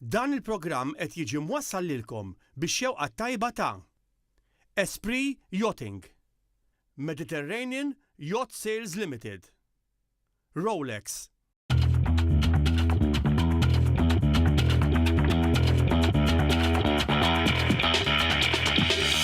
Dan il-programm qed jiġi mwassal lilkom bix-xewqa t-tajba ta' Esprit Yachting, Mediterranean Yacht Sales Limited, Rolex,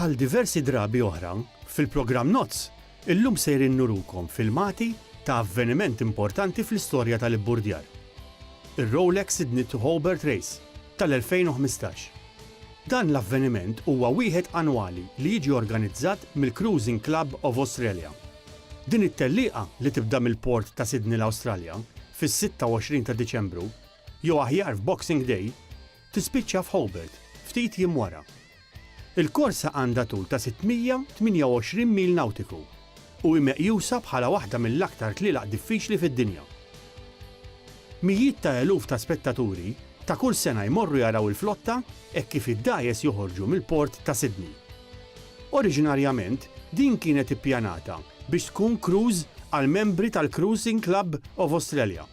Bħal diversi drabi oħra, fil-programm Nozz, illum sejrin nurukom filmati ta' avveniment importanti fl-istorja tal-ibburdjar, ir-Rolex Sydney to Hobart Race tal-2015. Dan l-avveniment huwa wieħed annwali li jiġi organizzat mill-Cruising Club of Australia. Din it-tellieqa li tibda mill-port ta' Sydney l-Awstralja fis-26 ta' Diċembru, jew aħjar f'Boxing Day, tispiċċa f'Hobart ftit jiem wara. Il-korsa għandha tul ta' 628 mil nawtiku. u hi meqjusa bħala waħda mill-aktar tlielaq diffiċli fid-dinja. Mijiet ta' eluf ta' spettaturi ta' kull sena jmorru jaraw il-flotta hekk kif id-dgħajjes joħorġu mill-port ta' Sydney. Oriġinarjament din kienet ippjanata biex tkun cruise għall-membri tal-Cruising Club of Australia,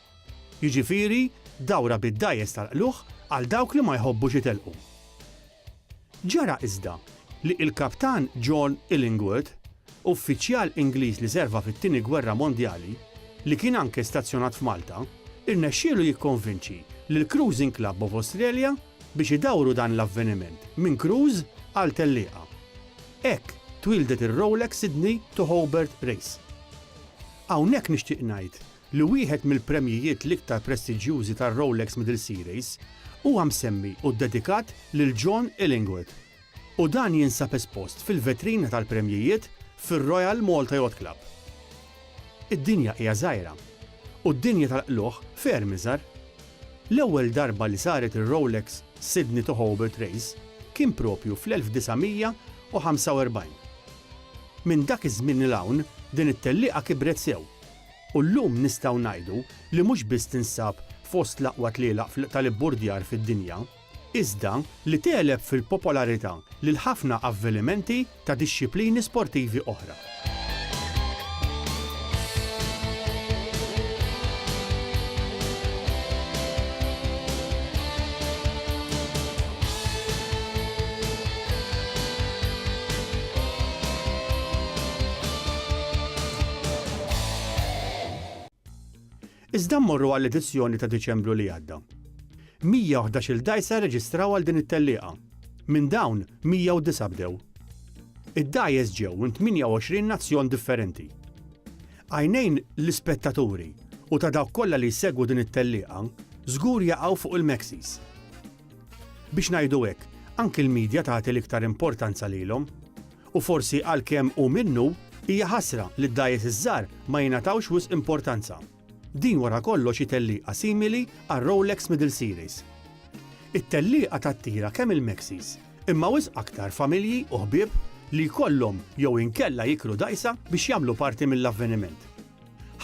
jiġifieri dawra bid-dgħajjes tal-qlugħ għal dawk li ma jħobbux itelqu. Ġara iżda li il-Kaptan John Illingworth, uffiċjal Ingliż li serva fit-Tieni Gwerra Mondjali, li kien anke stazzjonat f'Malta, irnexxielu jikkonvinċi lill-Cruising Club of Australia biex idawru dan l-avveniment minn kruż għal tellieqa. Hekk twieldet ir-Rolex Sydney to Hobart Race. Hawnhekk nixtieq ngħid li wieħed mill-premjijiet l-iktar prestiġjużi tar-Rolex Middle Series huwa msemmi u ddedikat lil John Illingworth, u dan jinsab espost fil-vetrina tal-premjijiet fir-Royal Malta Yacht Club. Id-dinja hija żgħira, u d-dinja tal-qlugħ ferm iżgħar. L-ewwel darba li saret ir-Rolex Sydney to Hobart Race kien proprju fl-1945. Minn dak iż-żmien 'l hawn din it-tellieqa kibret sew, U llum nistgħu ngħidu li mhux biss tinsab fost l-aqwa tlielaq tal-ibburdjar fid-dinja, iżda li tegħleb fil-popolarità lil ħafna avvelimenti ta' dixxiplini sportivi oħra. Iżda mmorru għall-edizzjoni ta' Diċembru li għadda. 111-il dgħajsa rreġistraw għal din it-tellieqa. Minn dawn, 109 bdew. Id-dgħajjes ġew minn 28 nazzjon differenti. Għajnejn l-ispettaturi u ta' dawk kollha li jsegwu din it-tellieqa żgur jaqgħu fuq il-Mexis. Biex ngħidu hekk, anki l-media tagħti l-iktar importanza lilhom. u forsi għalkemm hu minnu, hija ħasra li d-dgħajjes iż-żgħar ma jingħatawx wisq importanza. Din wara kollox hi tellieqa simili għar-Rolex Middle Series. It-tellieqa tattira kemm il-Maxis, imma wisq aktar familji u ħbieb li jkollhom jew inkella jikru dgħajsa biex jagħmlu parti mill-avveniment.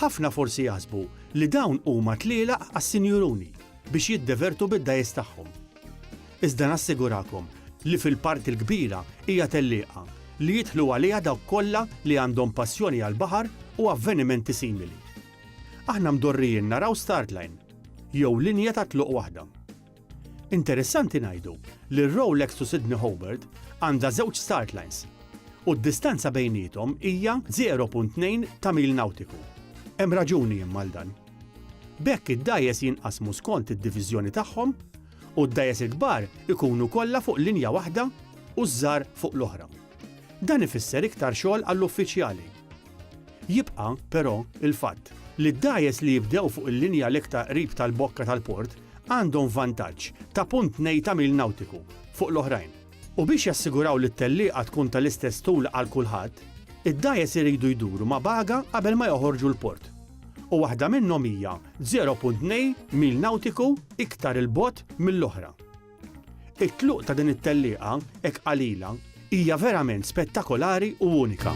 Ħafna forsi jaħsbu li dawn huma tlielaq għas-sinjuruni biex jiddevertu bid-dgħajjes tagħhom. Iżda nassigurakom li fil-parti l-kbira hija tellieqa li jidħlu għaliha dawk kollha li għandhom passjoni għall-baħar u avvenimenti simili. Aħna mdorrijin naraw start line, jew linja ta' tluq waħda. Interessanti ngħidu li r-Rolex to Sydney Hobart għandha żewġ start lines u d-distanza bejniethom hija 0.2 ta' mil nawtiku. Hemm raġuni imma għal dan. B'hekk id-dgħajjes jinqasmu skont id-diviżjoni tagħhom u d-dgħajjes il-kbar ikunu kollha fuq linja waħda u ż-żgħar fuq l-oħra. Dan ifisser iktar xogħol għall-uffiċjali. Jibqa', però, il-fatt li d-dgħajjes li jibdew fuq il-linja l-iktar qrib tal-bokka tal-port għandhom vantaġġ ta' punt tnej ta' mil nawtiku fuq l-oħrajn. U biex jassiguraw li t-tellieqa tkun tal-istess tul għal kulħadd, id-dgħajjes iridu jduru ma' baga qabel ma joħorġu l-port. u waħda minnhom hija 0.2 mil nawtiku iktar 'il bogħod mill-oħra. It-tluq ta' din it-tellieqa hekk qalila hija verament spettakolari u unika.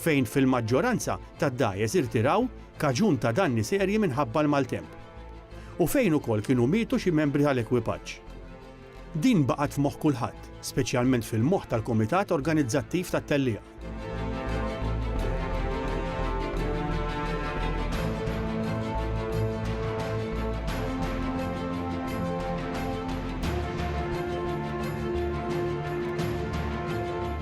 fejn fil-maġġoranza tad-dgħajjes irtiraw kaġun ta' danni serji minħabba l-maltemp, u fejn ukoll kienu mietu xi membri tal-ekwipaġġ. Din baqgħet f'moħħ kulħadd, speċjalment fil-moħħ tal-Kumitat Organizzattiv tat-Tellieqa.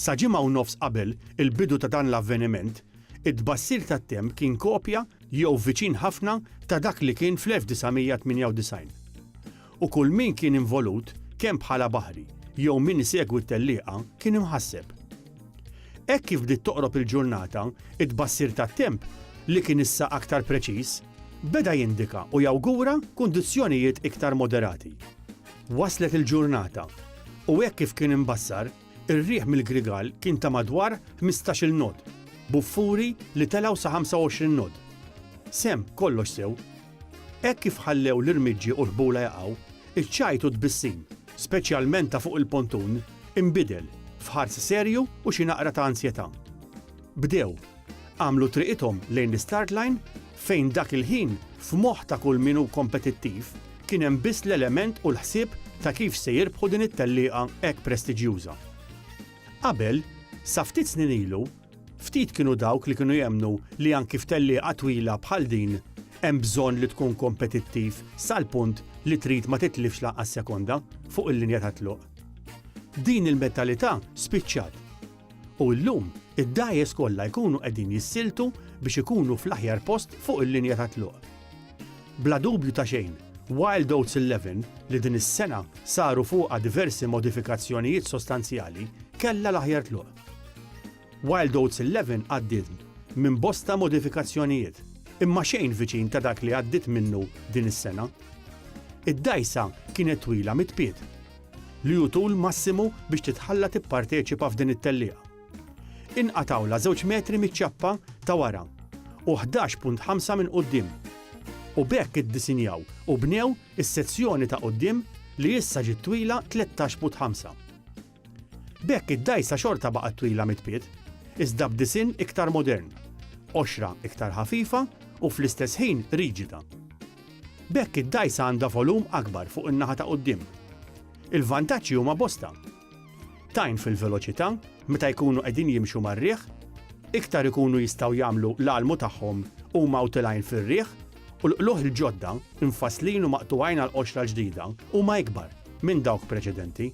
Sa ġimgħa u nofs qabel il-bidu ta' dan l-avveniment, it-tbassir tat-temp kien kopja jew viċin ħafna ta' dak li kien fl-1998. U kull min kien involut, kemm bħala baħri jew min isegwi t-tellieqa, kien imħasseb. Hekk kif bdiet toqrob il-ġurnata, it-tbassir tat-temp, li kien issa aktar preċiż, Beda jindika u jawgura kundizzjonijiet iktar moderati. Waslet il-ġurnata, u hekk kif kien imbassar, ir-riħ mill-Grigal kien ta' madwar ħmistax-il nod, b'uffuri li telgħu sa 25 nod. Sehem kollox sew. Hekk kif ħallew l-irmiġġi u l-ħbula jaqgħu, iċ-ċajt u t-tbissim, speċjalment ta' fuq il-pontun, inbidel f'ħars serju u xi naqra ta' ansjetà. Bdew għamlu triqithom lejn l-istart line fejn dak il-ħin f'moħħ ta' kull min hu kompetittiv kien hemm biss l-element u l-ħsieb ta' kif se jirbħu din it-tellieqa hekk prestiġjuża. Qabel, sa ftit snin ilu, ftit kienu dawk li kienu jemmnu li anki f'tellieqa twila bħal din hemm bżonn li tkun kompetittiv sal-punt li trid ma titlifx lanqas sekonda fuq il-linja tat-tluq. Din il-mentalità spiċċat. U llum, id-dgħajjes kollha jkunu qegħdin jissiltu biex ikunu fl-aħjar post fuq il-linja tat-tluq. Bla dubju ta' xejn, Wild Oats Eleven, li din is-sena saru fuqha diversi modifikazzjonijiet sostanzjali, kellha l-aħjar tluq. Wild Oats Eleven għaddiet minn bosta modifikazzjonijiet, imma xejn viċin ta' dak li għaddiet minnu din is-sena. Id-dgħajsa kienet twila mit-tpiet. li hu tul massimu biex titħalla tipparteċipa f'din it-tellieqa. Inqatgħulha żewġ metri miċ-ċappa ta' wara u ħdax punt ħamsa minn quddiem u b'hekk iddisinjaw u bnew is-sezzjoni ta' quddiem li issa ġiet twila tlettax put ħamsa. B'hekk id-dgħajsa xorta baqgħet twila mit-tpiet, iżda b'disinn iktar modern, qoxra iktar ħafifa u fl-istess ħin riġida. B'hekk id-dgħajsa għandha volum akbar fuq in-naħa ta' quddiem. Il-vantaġġi huma bosta. Tgħin fil-veloċità meta jkunu qegħdin jimxu mar-riħ, iktar ikunu jistgħu jagħmlu l-għalmu tagħhom huma utilgħin fir-riħ u l-qlugħ il-ġodda, imfasslin u maqtugħin għall-qoxra l-ġdida, huma ikbar minn dawk preċedenti.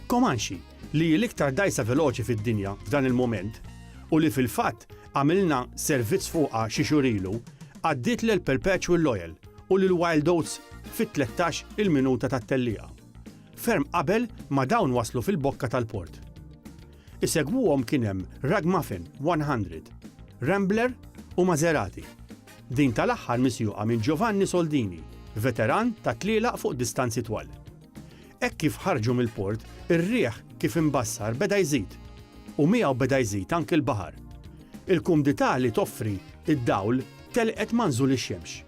Comanche, li hi l-iktar dgħajsa veloċi fid-dinja f'dan il-mument u li fil-fatt Għamilna servizz fuqha xi xhur ilu, għaddiet lil Perpetual Loyal u lil Wild Oats fit-tlettax il-minuta tat-tellieqa, ferm qabel ma dawn waslu fil-bokka tal-port. Isegwuhom kien hemm Ragmuffin 100, Rambler u Maserati, din tal-aħħar misjuqa minn Giovanni Soldini, veteran tat-tlielaq fuq distanzi twal. Hekk kif ħarġu mill-port, ir-riħ kif imbassar beda jżid, u miegħu beda jżid anki l-baħar. Il-kumdità li toffri d-dawl telqet ma' nżul ix-xemx.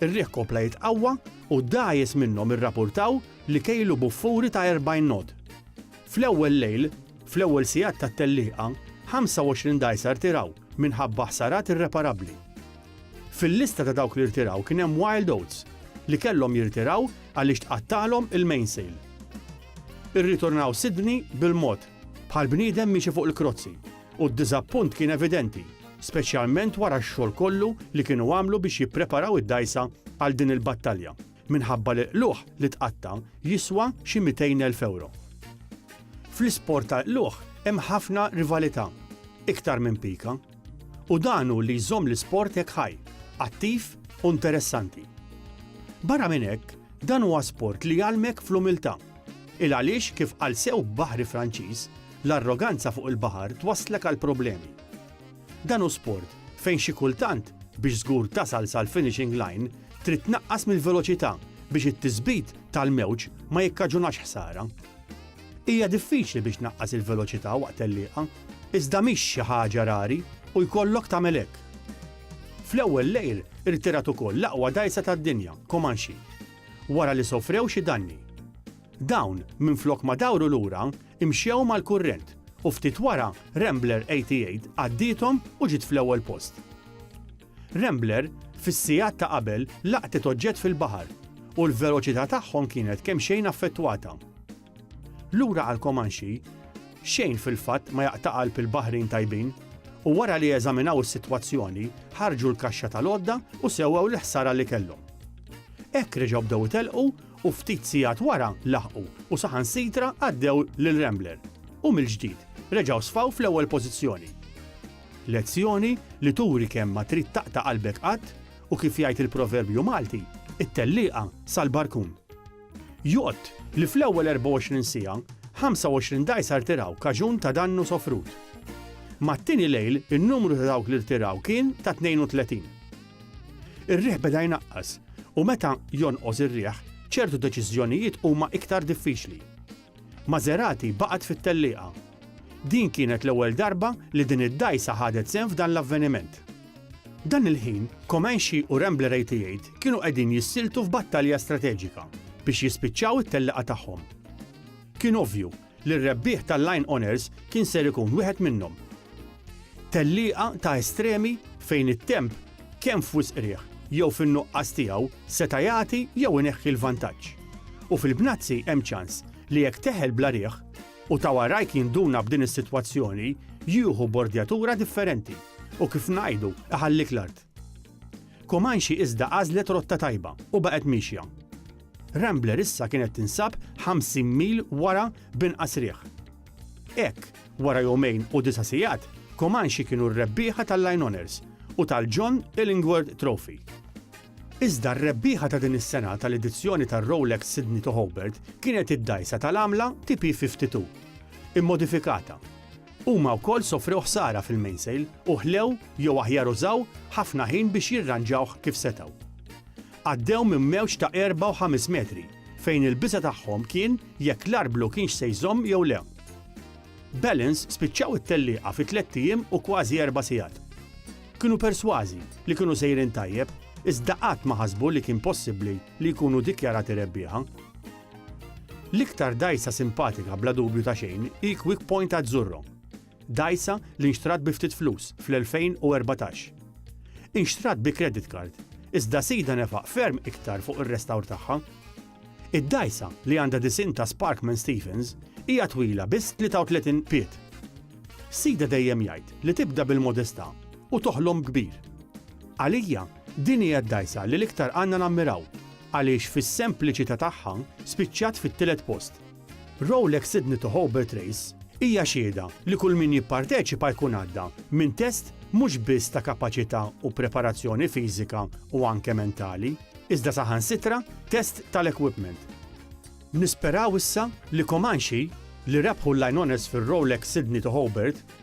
Ir-riħ kompla jitqawwa u d-dgħajjes minnhom irrapurtaw li kejlu buffuri ta' 40 knot. Fl-ewwel lejl, fl-ewwel sigħat tat-tellieqa, 25 dgħajsa rtiraw minħabba ħsarat irreparabbli. Fil-lista ta' dawk li rtiraw kien hemm Wild Oats li kellhom jirtiraw għaliex tqattagħlhom il-mainsail. Irritornaw Sydney bil-mod, bħal bniedem miexi fuq il-krozzi, u d-diżappunt kien evidenti, speċjalment wara x-xogħol kollu li kienu għamlu biex jippreparaw id-dgħajsa għal din il-battalja, minħabba li qluħ li tqatta' jiswa xi 200,000 ewro. Fl-isport tal-qluħ hemm ħafna rivalità, iktar minn pika. U dan hu li jżomm l-isport hekk ħaj, attiv u interessanti. Barra minn hekk, dan huwa sport li jgħallmek fl-umiltà. Il għaliex kif qal sew baħri Franċiż, l-arroganza fuq il-baħar twasslek għal problemi. Dan hu sport fejn xi kultant biex żgur tasal sal-finishing line trid tnaqqas mill-veloċità biex it-tisbit tal-mewġ ma jikkaġunax ħsara. Hija diffiċli biex tnaqqas il-veloċità waqt tellieqa, iżda mhix xi ħaġa rari u jkollok tagħmel hekk. Fl-ewwel lejl irtirat ukoll l-aqwa dgħajsa tad-dinja, Comanche, wara li sofrew xi danni. Dawn, minflok ma dawru lura, imxew mal-kurrent u ftit wara Rambler 88 għaddiethom u ġiet fl-ewwel post. Rambler, fis-sigħat ta' qabel, laqtet oġġett fil-baħar, u l-veloċità tagħhom kienet kemxejn affettwata. Lura għal Comanche, xejn fil-fatt ma jaqta' qalb il-baħrin tajbin, u wara li eżaminaw is-sitwazzjoni, ħarġu l-kaxxa tal-għodda u sewwew l-ħsara li kellhom. Hekk reġgħu bdew itelqu u ftit sigħat wara laħqu u saħansitra għaddew lil Rambler, u mill-ġdid reġgħu sfaw fl-ewwel pożizzjoni. Lezzjoni li turi kemm ma trid taqta' qalbek qatt u kif jgħid il-proverbju Malti, it-tellieqa sal-barkun. Jott li fl-ewwel 24 siegħa, 25 dgħajsa rtiraw kaġun ta' dannu sofrut. Mat-tieni lejl in-numru ta' dawk li rtiraw kien ta' 32. Ir-riħ beda jnaqqas u meta jonqos ir-riħ ċertu deċiżjonijiet huma iktar diffiċli. Maserati baqgħet fit-tellieqa. Din kienet l-ewwel darba li din id-dgħajsa ħadet sehem f'dan l-avveniment. Dan il-ħin, Comanche u Rambler 88 kienu qegħdin jissiltu f'battalja strateġika biex jispiċċaw it-tellieqa tagħhom. Kien ovvju li r-rebbieħ tal-Line Honours kien ser ikun wieħed minnhom. Tellieqa ta' estremi fejn it-temp kemm f'wisq qrieħ jew fin-nuqqas tiegħu seta' jagħti jew ineħħi l-vantaġġ. U fil-bnazzi hemm ċans li jekk teħel bla riħ u ta' warajk jinduna b'din is-sitwazzjoni jieħu bordjatura differenti u kif ngħidu iħallik l-art. Comanche iżda għażlet rotta tajba u baqgħet miexja. Rambler issa kienet tinsab 50 mil wara b'inqas riħ. Hekk, wara jumejn u disa' sigħat, Comanche kienu r-rebbieħa tal-Line Honours u tal-John Illingworth Trophy. Iżda r-rebbieħa ta' din is-sena tal-edizzjoni tar-Rolex Sydney to Hobart kienet id-dgħajsa tal-għamla TP52, immodifikata. Huma wkoll sofrew ħsara fil-mainsail u ħlew, jew aħjar użaw, ħafna ħin biex jirranġawh kif setgħu. Għaddew minn mewġ ta' 4 u ħames metri, fejn il-biża' tagħhom kien jekk l-arblu kienx se jżomm jew le. Balance spiċċaw it-tellieqa fi tlett ijiem u kważi erba' sigħat. Kienu persważi li kienu sejrin tajjeb iżda qatt ma ħasbu li kien possibbli li jkunu dikjarati rebbieħa. L-iktar dgħajsa simpatika bla dubju ta' xejn hi Quick Point Azzurro, dgħajsa li nxtrat bi ftit flus fl-2014. Inxtrat bi credit card iżda sidha nefaq ferm iktar fuq ir-restawr tagħha. Id-dgħajsa, li għandha disinn ta' Spark minn Stephens, hija twila biss 33 pied. Sidha dejjem jgħid li tibda bil-modestà u toħlom kbir. Għalija, din hija d-dgħajsa li l-iktar għandna nammiraw għaliex fis-sempliċità tagħha spiċċat fit-tielet post. Rolex Sydney to Hobart Race hija xhieda li kull min jipparteċipa jkun għadda minn test mhux biss ta' kapaċità u preparazzjoni fiżika u anke mentali, iżda saħansitra test tal-equipment. Nisperaw issa li Comanche, li rebħu l-Lioness fir-Rolex Sydney to Hobart,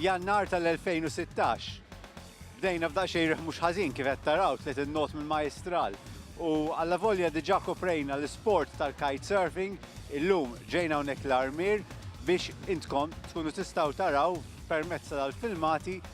Jannar tal-2016. Bdejna f'daqsxejn riħ mhux ħażin kif qed taraw tliet in-not mill-Majjistral. U alla volja diġà koprejna l-isport tal-kitesurfing, illum ġejna hawnhekk l-Armier biex intkom tkunu tistgħu taraw permezz tal-filmati